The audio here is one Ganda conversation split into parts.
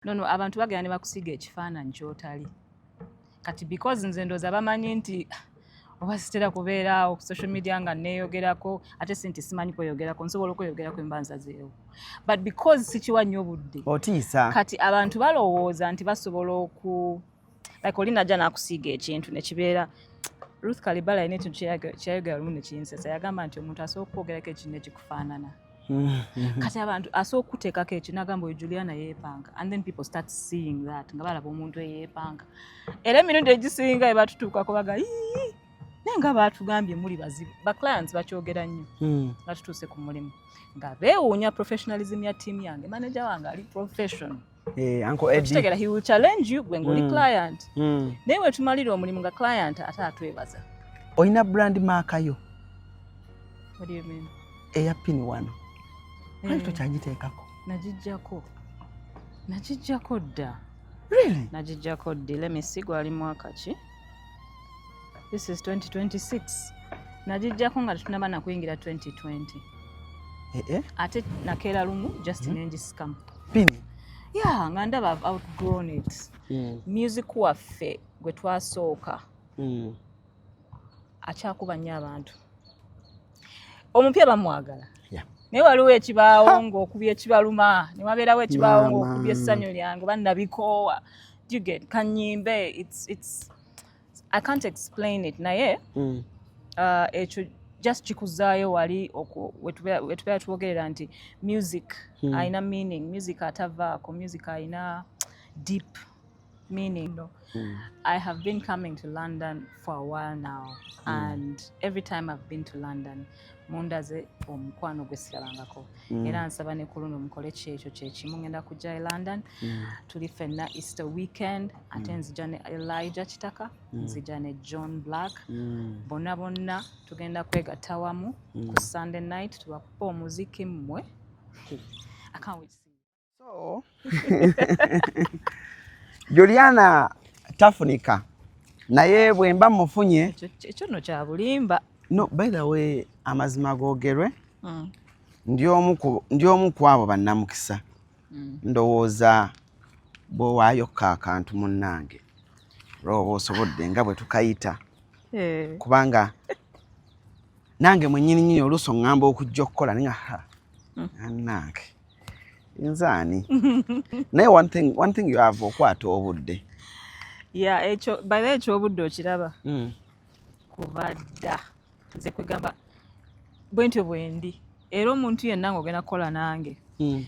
nono abantu bagenda ne bakusiga ekifaananyi kyotali kati because nze ndoza bamanyi nti oba sitera kubeera awo ku social media nga neeyogerako ate si nti simanyi kweyogerako nsobola okweyogerako embanza zeewo but because sikiwa nnyo budde otiisa kati abantu balowooza nti basobola oku like oli najja n'akusiiga ekintu ne kibeera Ruth Kalibala alina ekintu kyeyayogera lumu ne kinsesa yagamba nti omuntu asooka okukwogerako ekintu ne kikufaanana Mm-hmm. kati abantu asobola okuteekako ekyo nagamba oyo juliana yeepanga and then people start seeing that nga balaba omuntu eyeepanga era emirundi egisinga ebatutuukako baga naye nga batugambye muli bazibu baclients bakyogera nnyo mm. nga tutuuse ku mulimu nga beewuunya professionalism ya tiimu yange manager wange ali professional Eh, okitegera he will challenge you gwe ngaoli mm. client mm. naye wetumalira omulimu nga client ate atwebaza olina brand maaka yo eya pini wano eh. ali tokyagiteekako nagijjako nagijjako dda nagijjako ddi lemisi gwali mwaka ki this is 2026 nagijjako nga tetunaba nakuyingira 2020 eh, eh? ate nakeera lumu just mm -hmm. nengisikamu pini yeah nga ndaba i've outgrown it mm. music waffe gwe twasooka mm. akyakuba nnyo abantu omupya bamwagala naye waliwo ekibaawo ng'okubya ekibaluma ne wabeerawo ekibaawo ng'okubya essanyu lyange oba nabikoowa juget kanyimbe i can't explain it naye mm. uh, ekyo just kikuzaayo wali wetubeera twogerera nti music hmm. alina meaning music atavaako music alina deep meaning no. mm. I have been coming to London for a while now mm. and every time I've been to London mundaze omukwano gwesigalangako mm. era nsaba ne kuluno mukole kyekyo kyekimu ngenda kujja e London mm. tuli fenna Easter weekend ate mm. nzija ne Elijah Kitaka mm. nzija ne John Black mm. bonna bonna tugenda kwegatta wamu mm. ku Sunday night tubakupa omuziki mmwe I can't wait So, Juliana tafunika naye bwemba mufunye ekyo no kyabulimba no by the way amazima gogerwe mm. ndi omu ku abo bannamukisa mm. ndowooza bwewaayokka akantu munnange olwoba osobodde nga bwe tukayita eh. kubanga nange mwenyini nyini oluusi oŋŋamba okujja okukola ninga ha mm. nange nzaani naye one thing, one thing you have okwata obudde ya ekyo baira ekyobudde okiraba hmm. kuba dda nze kwegamba bwentyo bwendi era omuntu yenna nga ogenda kukola nange hmm.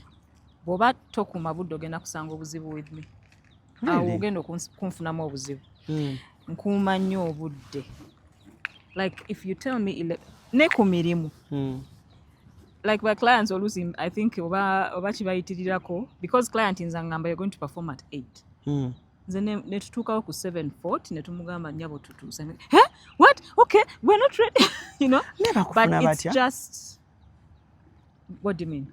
bwoba tokuuma budde ogenda kusanga obuzibu with me awo ogenda okunfunamu obuzibu hmm. nkuuma nnyo obudde like if you tell me ne ku mirimu hmm. like by clients oluusi i think oba, oba kibayitirirako because client nza ngamba you're going to perform at eight hmm. nze netutuukawo ku seven fort netumugamba nyabo tutuuse hey, what okay we're not ready you know but it's just what do you mean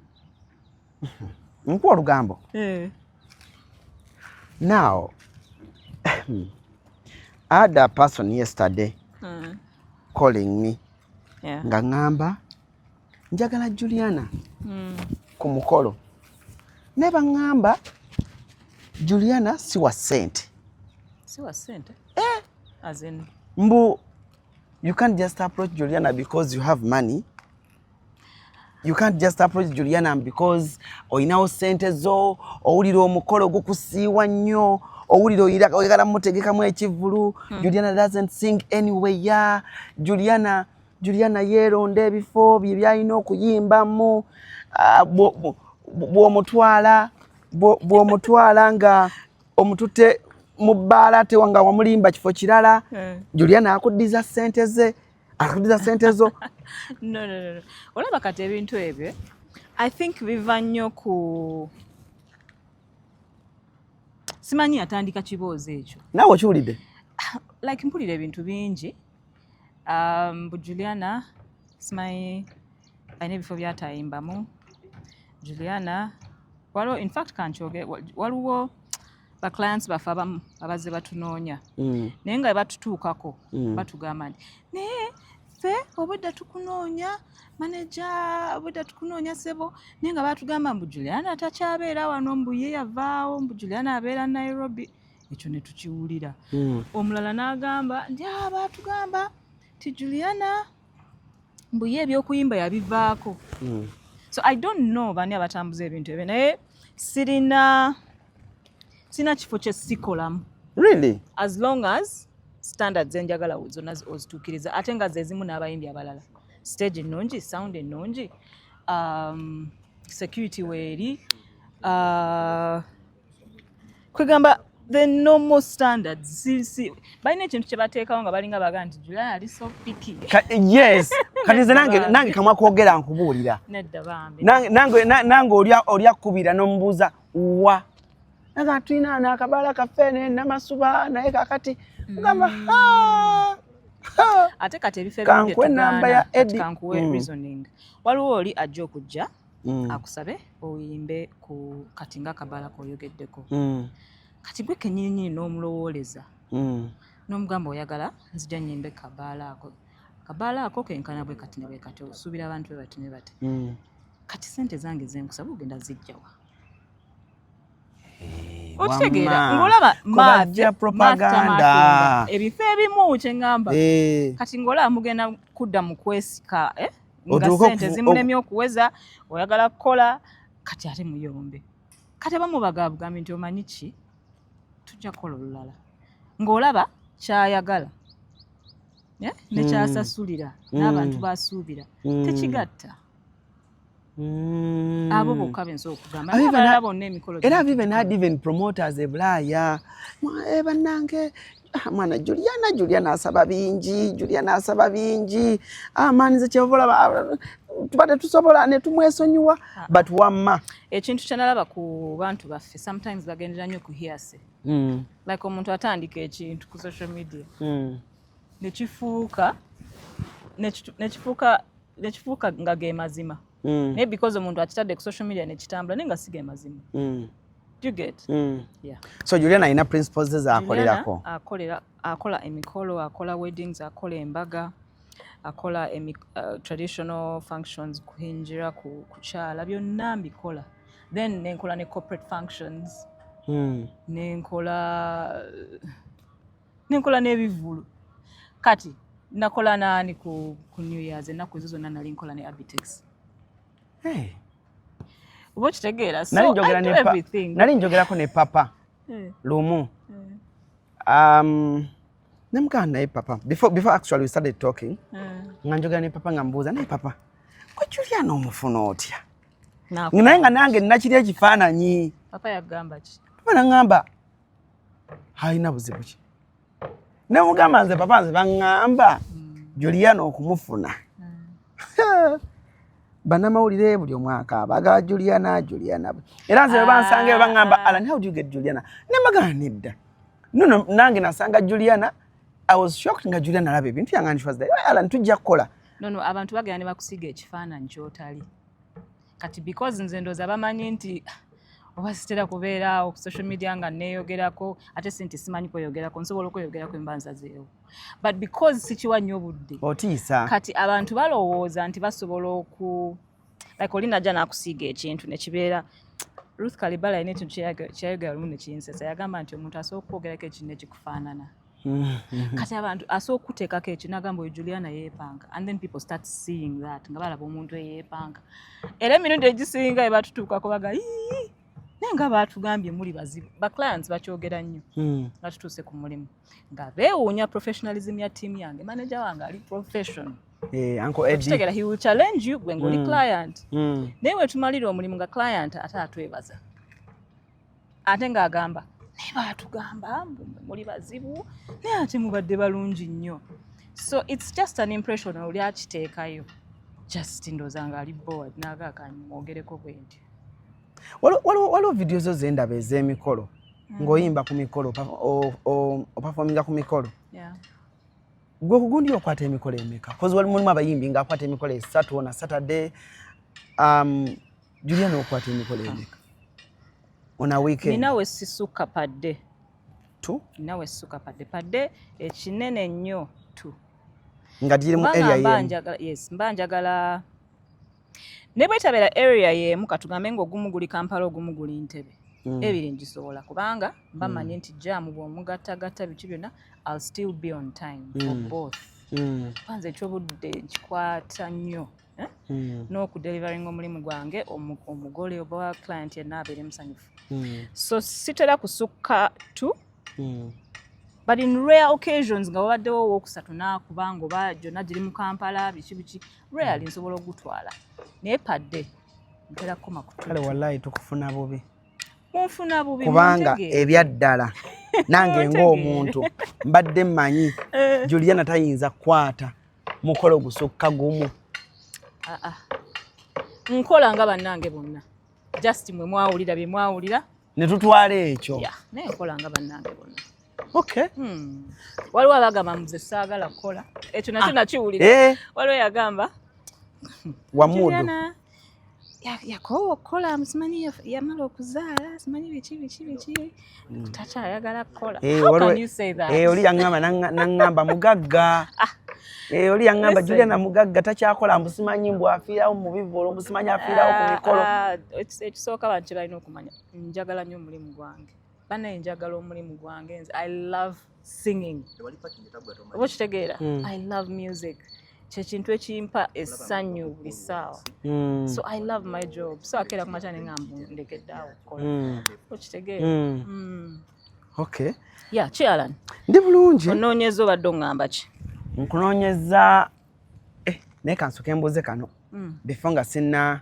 nkuwa olugambo eh. now I had a person yesterday mm. calling me yeah. nga ngamba njagala Juliana mm. ku mukolo naye bangamba Juliana si wa sente si wa sente eh. As in... mbu you can't just approach Juliana because you have money you can't just approach Juliana because olinawo sente zo owulira omukolo gukusiiwa nnyo owulira oyagala mutegekamu ekivulu hmm. Juliana doesn't sing anyway ya Juliana Juliana yeeronda ebifo bye byalina okuyimbamu ah, bw'omutwala bw'omutwala nga omutute mu bbaala tewanga wamulimba kifo kirala hmm. Juliana akuddiza sente ze akudiza sente zo no, no, no. olaba kati ebintu ebyo i think biva nnyo ku simanyi yatandika kiboozi ekyo naawe okiwulidde like mpulira ebintu bingi um, bu juliana simanyi alina ebifo byatayimbamu juliana waliwo infact kankyoge waliwo ba clients baffe abamu abazze batunoonya mm. naye nga batutuukako mm. batugamba nti naye ffe obudde tukunoonya maneja obudde tukunoonya sebo naye nga batugamba mbu juliana takyabeera wano mbu ye yavaawo mbu juliana abeera nairobi ekyo ne tukiwulira mm. omulala n'agamba nti ah, batugamba ti juliana mbu ye ebyokuyimba yabivaako so i don't know bani abatambuza ebintu ebyo naye sirina sina kifo kye sikolamu really as long as standards enjagala zonna ozituukiriza ate nga zezimu n'abayimbi abalala stage ennungi sound ennungi um, security weeri uh, kwegamba the normal standards si, si. balina ekintu kyebateekawo nga balinga baga nti july ali so picky Ka, yes kati nze nange nange kamwa kwogera nkubuulira nange oli akkubira n'omubuuza wa naga tulina nakabala kaffe ne namasuba naye kakati mugamba mm. ha ate kati ebifo ebinkuwe namba ya edi kankuwe mm. reasoning waliwo oli ajja okujja mm. akusabe oyimbe ku kati nga akabala koyogeddeko mm. kati gwe kenyininyini n'omulowooleza mm. n'omugamba oyagala nzija nyimbe kabaala ako kabaala ako kenkana bwe kati ne bwe kati osuubira abantu bwe bati ne bati mm. kati sente zange zenkusaba ogenda zijjawa eh, okitegeera ngolaba maja propaganda ebifo ebimu kyeŋamba eh. kati ngolaba mugenda kudda mu kwesika eh? nga sente zimulemye okuweza oyagala kukola kati ate muyombe kati abamu bagabugambye nti omanyi ki tujja kukola olulala ng'olaba kyayagala eh, nekyasasulira hmm. n'abantu basuubira hmm. tekigatta Mm. abo bokka benza okugamba abalala bonna emikolo era vive not even promoters ebulaaya eh, bannange ah, mwana juliana juliana asaba bingi juliana asaba bingi amaanize ah, kyova olaba ah, tuba tetusobola netumwesonyiwa but wamma ekintu kyenalaba ku bantu baffe sometimes bagendera nnyo ku hiase mm. like omuntu atandika ekintu ku social media mm. ne kifuuka ne kifuuka ne kifuuka nga ge mazima mm. naye because omuntu akitadde ku social media ne kitambula naye nga si ge mazima mm. do you get mm. yeah. so Juliana alina principles ze zaakolerako akolera akola emikolo akola weddings akola embaga akola emi, uh, traditional functions kuhinjira ku, kukyala byonna mbikola then nenkola ne corporate functions mm. nenkola uh, nenkola n'ebivvulu kati nakola naani ku, ku new years ennaku ezo zonna nali nkola ne abitex hey. oba okitegeera nali njogerako ne papa eh. lumu eh. um, nemugamba naye papa before, before actually we started talking eh. nga njogera ne papa nga mbuuza naye papa gwe juliana omufuna otya naye nga nange nakiri ekifaananyi papa yagamba ki papa nangamba halina buzibu ki ne mugamba nze papa nze baŋŋamba juliana okumufuna hmm. banamawulire buli omwaka abagala juliana juliana era nze webansanga ah. baŋŋamba alan how do you get juliana ne magana nedda nono nange nasanga juliana i was shocked nga juliana alaba ebintu yange and she was there alan tujja kukola nono abantu bagenda ne bakusiga ekifaananyi kyotali kati because nze ndooza bamanyi nti oba sitera kubeera awo ku social media nga neeyogerako ate si nti simanyi kweyogerako nsobola okweyogerako emba nzazeewo but because sikiwa nnyo obudde otiisa kati abantu balowooza nti basobola oku like oli najja nakusiiga ekintu nekibeera ruth kalibala yina ekintu kyeyayogera lumu nekinsesa yagamba nti omuntu asobola okukwogerako ekintu nekikufaanana kati abantu asobola okukuteekako ekyo nagamba oyo juliana yeepanga and then people start seeing that nga balaba omuntu eyeepanga era emirundi egisinga ebatutuukako baga naye nga baatugambye muli bazibu baclients bakyogera nnyo hmm. nga tutuuse ku mulimu nga beewuunya professionalism ya tiimu yange manaja wange ali professional Eh, uncle Eddie. Tutegera he will challenge you gwe ngoli mm. client. Mm. Naye wetumalira omulimu nga client ate atwebaza. ate ng'agamba naye baatugamba muli bazibu naye ate mubadde balungi nnyo so its just an impression oli akiteekayo just ndooza nga ali board naaga akanyu mwogereko bwe nti waliwo vidiyo zo zendaba ez'emikolo mm. ng'oyimba ku mikolo opafominga ku mikolo gwe kugundi okwata emikolo emeka kozi wali mulimu abayimbi ng'akwata emikolo esatu ona saturday um, Julia n'okwata emikolo emeka on a weekend ninawe sisuka padde tu ninawe sisuka padde padde ekinene nnyo tu nga giri mu area yemu yes mba njagala ne bwetabeera area yemu katugambe ng'ogumu guli kampala ogumu guli ntebe mm. ebiri ngisobola kubanga mba mm. manyi nti jaamu bw'omugattagatta biki byonna i'll still be on time mm. for both mm. kwanza ekyobudde nkikwata nnyo eh? mm. n'okudeliveringa omulimu gwange omugole oba client yenna abeere musanyufu mm. so sitera kusukka tu mm. but in rare occasions nga wabaddewo owokusatu nakuba nga oba gyonna giri mu kampala biki biki rarely mm. nsobola okugutwala naye padde ntera kukoma kutale wallahi tukufuna bubi munfuna bubi kubanga ebyaddala nange ng'omuntu mbadde mmanyi eh. juliana tayinza kukwata mukola ogusukka gumu ah, ah. nkola nga bannange bonna just mwe mwawulira bye mwawulira ne tutwala ekyo naye nkola nga bannange bonna okay hmm. waliwo abagamba muze saagala kukola ekyo nakyo ah. nakiwulira eh. waliwo yagamba wamudu yakoowa okukola simanyi yamala okuzaala simanyi biki biki biki mm. takyayagala kukola eh, eh, oli yaŋamba naŋamba mugagga ah. eh, oli yaŋamba juliana mugagga takyakola mbu simanyi mbu afiirawo mu bivolo mbu simanyi afiirawo ku ah, mikolo ah, ekisooka bantu kyebalina okumanya njagala nnyo omulimu gwange banaye njagala omulimu gwange nze i love singing oba okitegeera hmm. i love music kyekintu ekimpa essanyu buli ssaawa hmm. so i love my job so akeera ku makya nenga ndegedde awo okukola hmm. okitegeera okay ya ki alan ndi bulungi onoonyeza obadde oŋŋamba ki nkunoonyeza eh, naye kansoke mbuuze kano befo nga sinna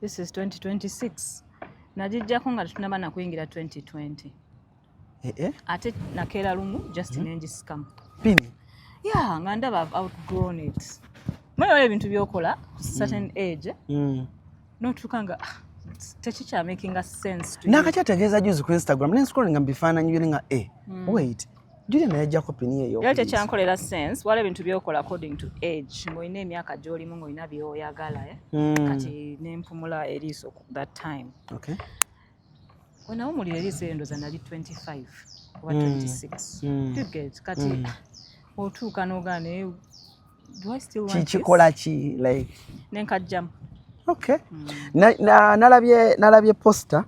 this is 2026 nagijjako nga tetunaba nakuyingira 2020 eh, eh? ate nakeera lumu just mm -hmm. nengisikamu pini yeah nga ndaba i've outgrown it mweoyo ebintu byokola ku certain mm. age mm. notuuka nga ah, tekikyamakinga sense nakakyategeeza juzi ku instagram nenscrollinga mubifaananyi byone nga e wait Julia naye ajja kopini eyo. Yali tekyankolera sense wala ebintu byokola according to age ng'olina emyaka gy'olimu ng'olina byoyagala eh? mm. kati nempumula eriiso that time okay. wenawumulira eriiso eyo ndoza nali 25 oba 26 mm. mm. get kati mm. otuuka nogaa naye kikikola ki like nenkajjamu okay mm. nalabye na, na, na posta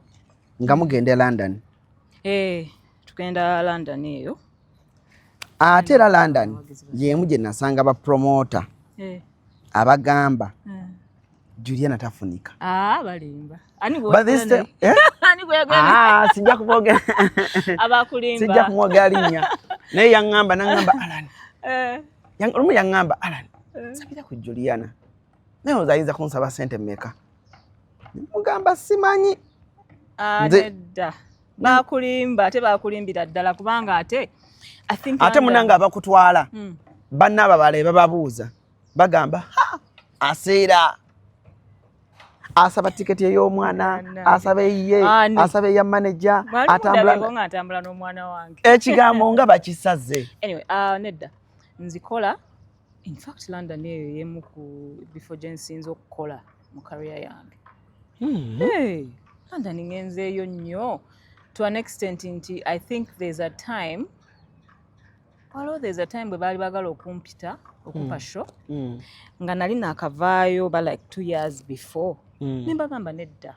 nga mugenda e london hey. Eh. tugenda London eyo ate era London yemu gye nasanga ba promoter eh. abagamba eh. Juliana tafunika ah balimba ani bwo this time eh? ani bwo ah sija kuboga abakulimba sija kumoga linya naye yangamba nangamba Alan eh yang rumu yangamba Alan eh. sabira ku Juliana naye oza ayinza kunsaba sente meka mugamba simanyi ah, nedda bakulimba ate bakulimbira ddala kubanga ate ate munange abakutwala hmm. banna ababala ebababuuza bagamba aseera asaba tiketi ey'omwana asaba eyiye asaba eya maneja atambula n'omwana wange ekigambo nga bakisaze anyway, uh, nedda nzikola In fact London eyo yemu ku bifo gye nsinze okukola mu career yange. Mm. Hey, London ngenzeeyo nnyo to an extent nti I think there's a time waliwo there's a time bwe baali bagala okumpita okumpa mm. show mm. nga nali nakavaayo ba like two years before mm. ne mbagamba nedda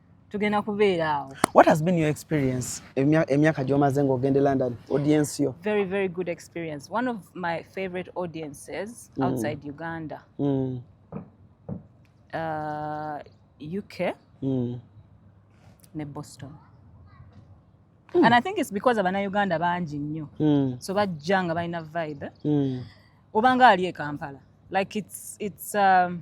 tugenda kubeera awo what has been your experience emyaka gyomaze ng'ogenda e london audience yo very very good experience one of my favorite audiences mm. outside mm. uganda mm. Uh, uk mm. ne boston mm. and i think it's because abanauganda bangi nnyo mm. so bajja nga balina vibe mm. obanga ali e kampala like it's, it's um,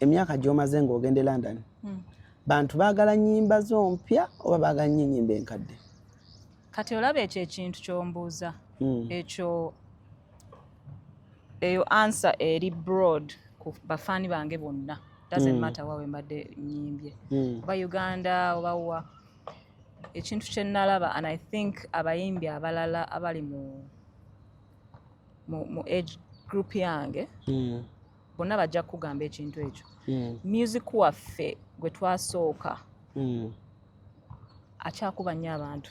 emyaka gyomaze ngaogende london hmm. bantu bagala nyimba zo mpya oba bagala nyo enyimba enkadde kati olaba ekyo ekintu kyombuuza hmm. ekyo eyo ansa eri broad ku bafaani bange bonna doesn't hmm. matter wawe mbadde nyimbye oba uganda oba wa ekintu kyenalaba and i think abayimbi abalala abali mu mu age group yange mm. bonna bajja kukugamba ekintu ekyo hmm. music waffe gwe twasooka hmm. akyakuba nnyo abantu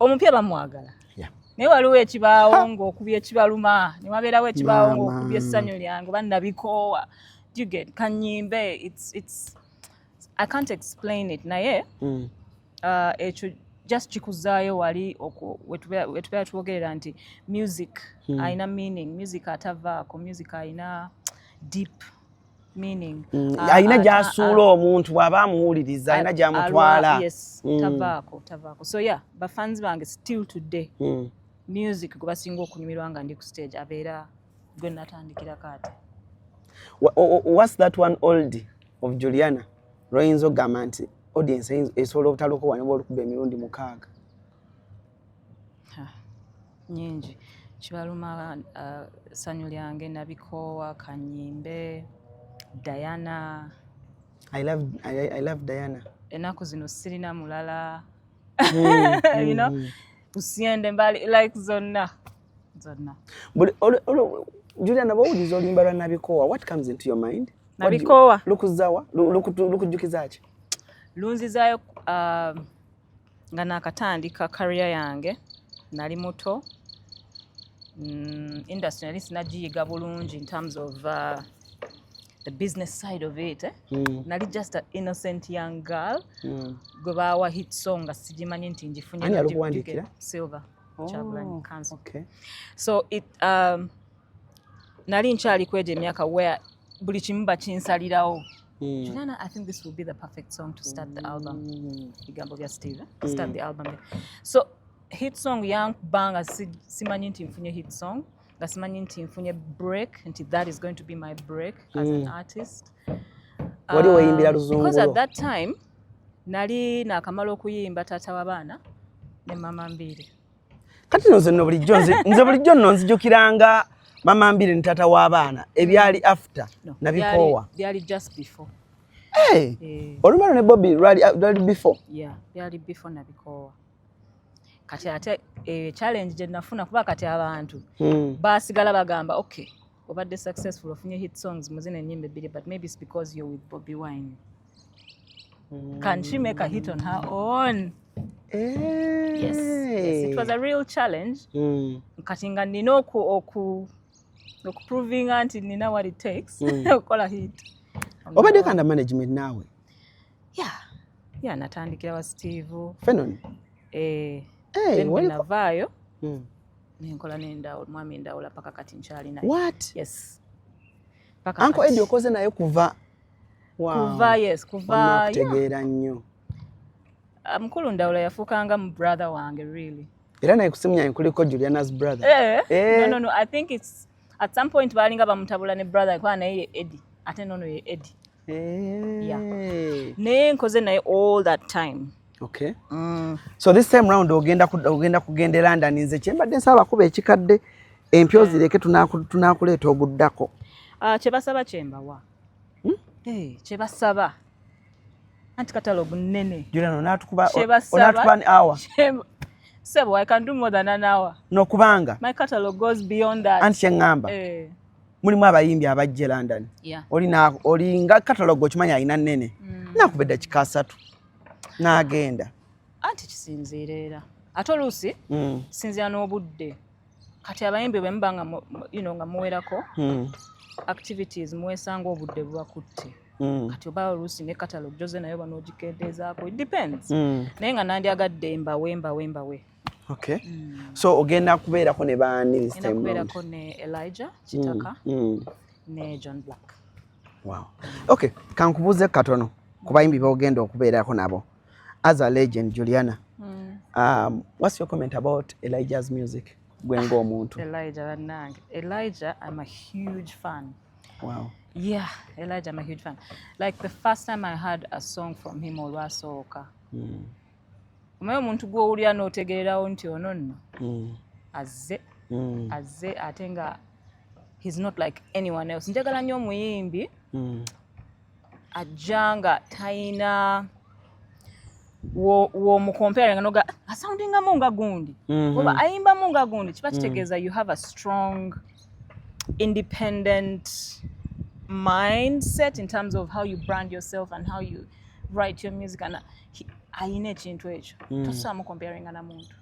omupya bamwagala naye waliwo ekibaawo ngaokubya ekibaluma newabeerawo ekibaawo ngaokubya essanyu lyange oba nabikoowa kanyimbe i can't explain it naye mm. uh, ekyo just kikuzaayo wali wetubeera twogerera nti music hmm. alina meaning music atavaako music alina deep meaning mm, ah, alina ah, gyasuula ah, omuntu bwaba amuwuliriza alina gyamutwala mm. tavaako tavaako so yeah bafans bange still today mm. music gwebasinga okunyumirwa nga ndi ku stage abeera gwe natandikira kaati what's that one old of Juliana lwayinza okugamba nti audience esobola obutaloka wano oba olukuba emirundi mukaaga nyingi kibaluma uh, sanyu lyange nabikoowa kanyimbe diana I love, I, I love diana enaku zino sirina mulala mm, you know mm. usiende mbali like zonna zonna juliana bwowuliza oluyimba lwa nabikoowa what comes into your mind nabikoowa lukuzawa lukujjukiza ki lunzizayo um, nga nakatandika kariya yange nali muto mm, industry nali sinagiyiga bulungi in terms of uh, the business side of it eh? mm. nali just an innocent young girl mm. gwe baawa hit song nga sigimanyi nti ngifunye silver oh, Kyagulanyi council okay. so it, um, nali nkyali kwejo emyaka where buli kimu bakinsalirawo Mm. Juliana, I think this will be the perfect song to start the album. Mm. Bigambo vya Steve, to mm. start the album. So hit song yangu banga simanyi nti mfunye hit song nga simanyi nti mfunye break nti that is going to be my break as mm. an artist wali weyimbira ah, luzungu because at that time nali nakamala okuyimba taata wabaana ne mama mbiri kati nze no bulijjo nze bulijjo no nzijukiranga mama mbiri ne taata w'abaana ebyali after no, nabikoowa byali just before hey, eh. olumalo ne bobi lwali uh, before yeah, byali before nabikoowa kati ate eyo eh, challenge gye nafuna kuba kati abantu hmm. basigala bagamba okay obadde successful ofunye hit songs muzina enyimba ebbiri but maybe it's because you're with Bobby Wine hmm. can she make a hit on her own eh. yes, yes it was a real challenge hmm. kati nga nina oku oku okuprovinga nti nina what it takes okukola hit obadde kanda management naawe ya ya natandikira wa steve fenon eh, hey, navaayo hmm. nenkola nendawula mwami endawula paka kati nkyali naye what yes paka anko edi okoze naye kuva wow. kuva yes kuva kutegeera nnyo ah, mukulu ndawula yafuukanga mu brother wange really era naye kusimu yange kuliko juliana's brother eh, eh. No, no, no. i think it's at some point baalinga bamutabula ne brother kwa naye edi ate nono ye edi yeah. naye nkoze naye all that time okay mm. so this time round ogenda ogenda kugenda e london nze kyembadde nsaba kuba ekikadde empyo yeah. zireke tunakuleeta oguddako uh, ah, kyebasaba kyembawa hmm? hey, eh, kyebasaba anti katalogu nene sebo i can do more than an hour no kubanga my catalog goes beyond that anti kyeŋŋamba eh. mulimu abayimbi abajje london olina olinga katalogo okimanyi alina nene mm. nakubedda kika asatu nagenda anti kisinziira era ate oluusi mm. sinzira n'obudde kati abayimbi bwemuba nga you know, nga muwerako mm. activities muwesanga obudde bubakutte Mm. kati oba oluusi ne catalogue joze nayo banogikendeezaako it depends mm. naye nga nandyagadde mbawe mbawe mbawe Okay. Mm. So ogenda kubeerako ne baani this time round? Kubeerako ne Elijah Kitaka mm. Mm. ne John Black. Wow. Okay, kankubuuze katono ku bayimbi b'ogenda okubeerako nabo as a legend Juliana. Mm. Um, what's your comment about Elijah's music? Gwe ng'omuntu. Elijah bannange. Elijah I'm a huge fan. Wow. Yeah, Elijah I'm a huge fan. Like the first time I heard a song from him olwasooka. Mm. omanyi omuntu gwowulira notegererawo nti ono nno mm. azze mm. azze ate nga he's not like anyone else njagala nnyo omuyimbi mm. ajja nga tayina womukompera nga noga asoundingamu nga gundi mm-hmm. oba ayimbamu nga gundi kiba kitegeeza you have a strong independent mindset in terms of how you brand yourself and how you write your music and ayina ekintu ekyo mm. tosamu comparinga na muntu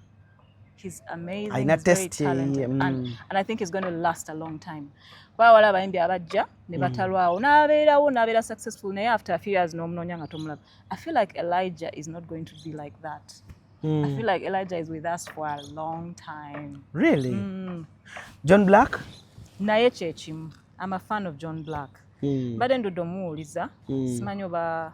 he's amazing ayina he's very talented mm. and, and i think he's going to last a long time kuba wala abayimbi abajja ne mm. batalwawo n'abeerawo n'abeera successful naye after a few years n'omunoonya nga tomulaba i feel like elijah is not going to be like that Mm. I feel like Elijah is with us for a long time. Really? Mm. John Black? Naye kyekimu. I'm a fan of John Black. Mm. Mbadde ndudde omuwuliza. Mm. Simanyi oba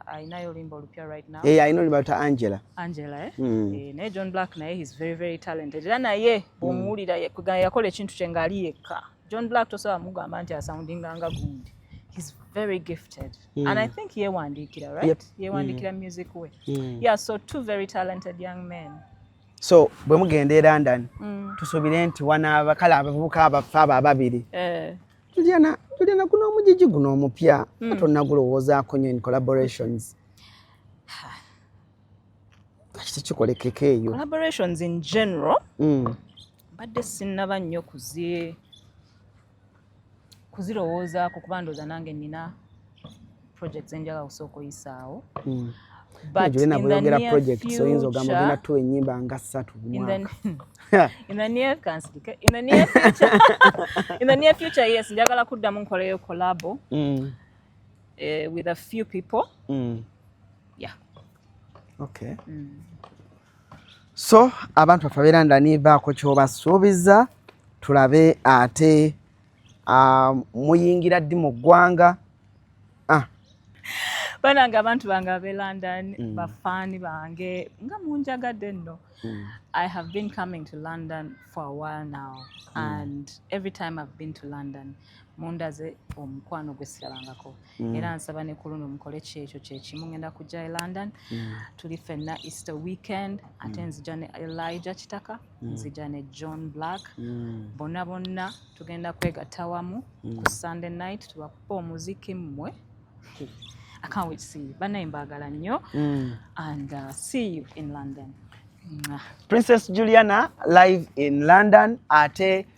alinayo olimba olupya right now. Eh, alina olimba luta Angela. Angela eh. Mm. Eh, naye John Black naye he's very very talented. Era naye hmm. bw'omuwulira mm. yakola ekintu kye ng'ali yekka. John Black tosobola mugamba nti asoundinga nga gundi. He's very gifted. Mm. And I think yewandiikira right? Yep. Yewandiikira mm. music we. Mm. Yeah, so two very talented young men. so bwe mugenda e london mm. tusubire nti wanaaba kale abavubuka abaffe abo ababiri eh. juliana juliana guno omujiji guno omupya mm. atonagulowoozaako nyo in collaborations kakiti kikolekeka eyo collaborations in general mm. mbadde mm. sinnaba nnyo kuzie kuzirowoozaako kuba ndooza nange nina projects enjaga kusooka oyisaawo hmm. butbyoyogera projects oyinza ogamba ogenda tuwa enyimba nga ssatu future yes njagala kuddamu nkoleyo collabo hmm. eh, with a few people hmm. yeah okay so abantu baffe abeera ndani baako kyobasuubiza tulabe ate uh, muyingira ddi mu ggwanga ah. banange abantu bange abe london mm. bafaani bange nga munjagadde nno mm. i have been coming to london for a while now mm. and every time i've been to london mundaze omukwano gwesirabangako mm. era nsaba ne kuluno mukole kyekyo kyekimu ngenda kujja e london mm. tuli fenna easter weekend ate mm. nzija ne elijah kitaka mm. nzija ne john black mm. bonna bonna tugenda kwegatta wamu mm. ku sunday night tubakupa omuziki mmwe I can't wait to see you. Banaye mbagala nnyo mm. and uh, see you in London. Mwah. Princess Juliana live in London ate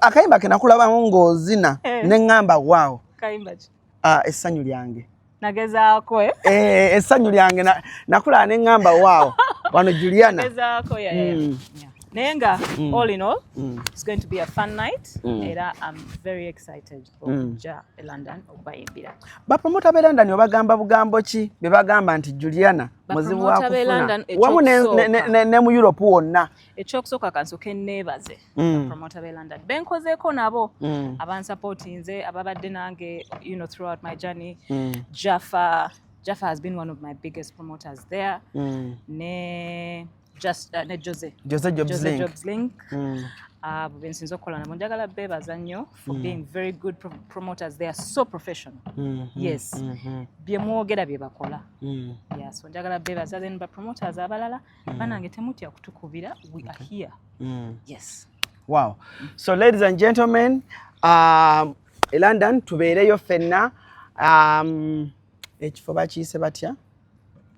akayimba ke nakulabamu ng'ozina eh. ne ŋŋamba waawo ah, essanyu lyange nagezaako eh? eh, essanyu lyange nakulaba ne ŋŋamba waawo wano juliana hmm. naye nga hmm. all in all hmm. it's going to be a fun night era am very excited okuja e london okubayimbira bapromota be london obagamba bugambo ki be bagamba nti juliana muzibu wakufuna wamu ne mu europe wonna ekyokusooka kansoke neebaze mm. promota be london benkozeeko nabo mm. abansapotinze ababadde nange you know, throughout my journey mm. jaffa jaffa has been one of my biggest promoters there mm. ne, just, uh, ne jose jose jobs jose link, jobs link. Mm. abo uh, bensinza okukola nabo njagala beebaza nnyo for mm. being very good pro promoters they are so professional mm -hmm. yes mm -hmm. byemwogera byebakola mm. yeah, so njagala beebaza then bapromoters abalala mm. banange temutya kutukubira we okay. are here mm. yes wow mm. so ladies and gentlemen um, e london tubeereyo fenna um, ekifo bakiyise batya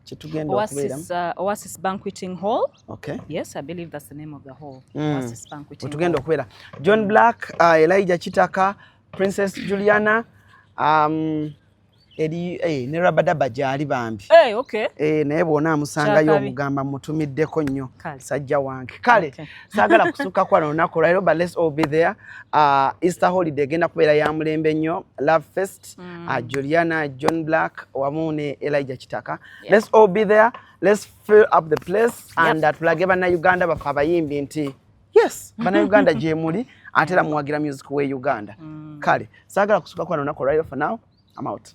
kyetugenda okubeeramu uh, oasis banqueting hall okay yes i believe that's the name of the hall mm. oasis banqueting wetugenda okubeera john black uh, elijah kitaka princess juliana um, eri eh, ne rabadaba gyali bambi hey, eh, okay. eh, naye bwona amusangayo omugamba mutumiddeko nnyo sajja wange kale okay. saagala kusukka kwa lunaku lwaliro but let's all be there uh, easter holiday egenda kubeera ya mulembe nnyo love fest mm. uh, juliana john black wamu ne elija kitaka yeah. let's all be there let's fill up the place yep. and uh, tulage bannauganda baffe abayimbi nti yes bana uganda gyemuli ate era muwagira music we uganda mm. kale saagala kusuka kwana lunaku olwaliro for now am out